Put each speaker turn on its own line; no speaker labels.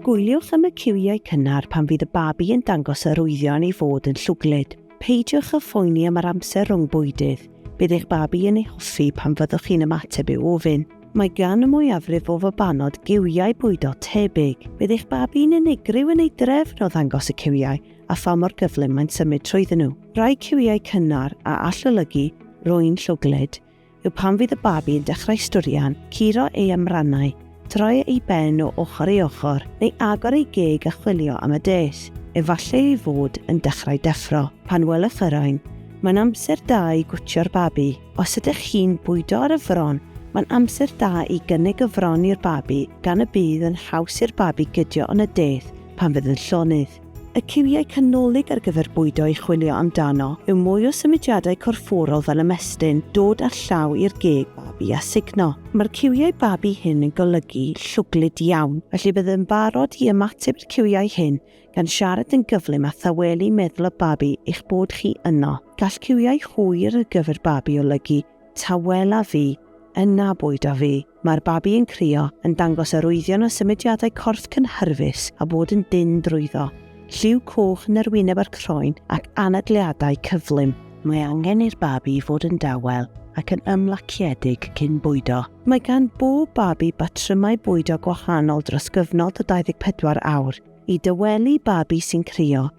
Gwyliwch am y ciwiau cynnar pan fydd y babi yn dangos arwyddion ei fod yn llwglyd. Peidiwch â phoeni am yr amser rhwng bwydydd. Bydd eich babi yn ei hoffi pan fyddwch chi'n ymateb i'w ofyn. Mae gan y mwyafrif o fabanod giwiau bwydo tebyg. Bydd eich babi'n unigryw yn ei drefn o ddangos y ciwiau a pha mor gyflym mae'n symud trwyddyn nhw. Rhai ciwiau cynnar a all olygu rwy'n llwglyd yw pan fydd y babi yn dechrau stwrian, curo ei amrannau, troi ei ben o ochr i ochr, neu agor ei geg a chwilio am y des, efallai ei fod yn dechrau deffro. Pan welwch yr oen, mae'n amser da i gwtio'r babi. Os ydych chi'n bwydo ar y fron, mae'n amser da i gynnig y fron i'r babi gan y bydd yn haws i'r babi gydio yn y des pan fydd yn llonydd. Y ciwiau canolig ar gyfer bwydo i chwilio amdano yw mwy o symudiadau corfforol fel ymestyn, dod â'r llaw i'r geg babi a sugno. Mae'r ciwiau babi hyn yn golygu llwglyd iawn, felly bydd yn barod i ymateb i'r ciwiau hyn gan siarad yn gyflym a thawelu meddwl y babi eich bod chi yno. Gall ciwiau hwyr ar gyfer babi olygu Tawela fi, yn na bwyd a fi. Mae'r babi yn crio, yn dangos arwyddion o symudiadau corff cynhyrfus a bod yn dynn drwyddo, lliw coch yn yr wyneb a'r croen ac anadliadau cyflym. Mae angen i'r babi fod yn dawel ac yn ymlaciedig cyn bwydo. Mae gan bob babi batrymau bwydo gwahanol dros gyfnod o 24 awr. I dawelu babi sy'n crio,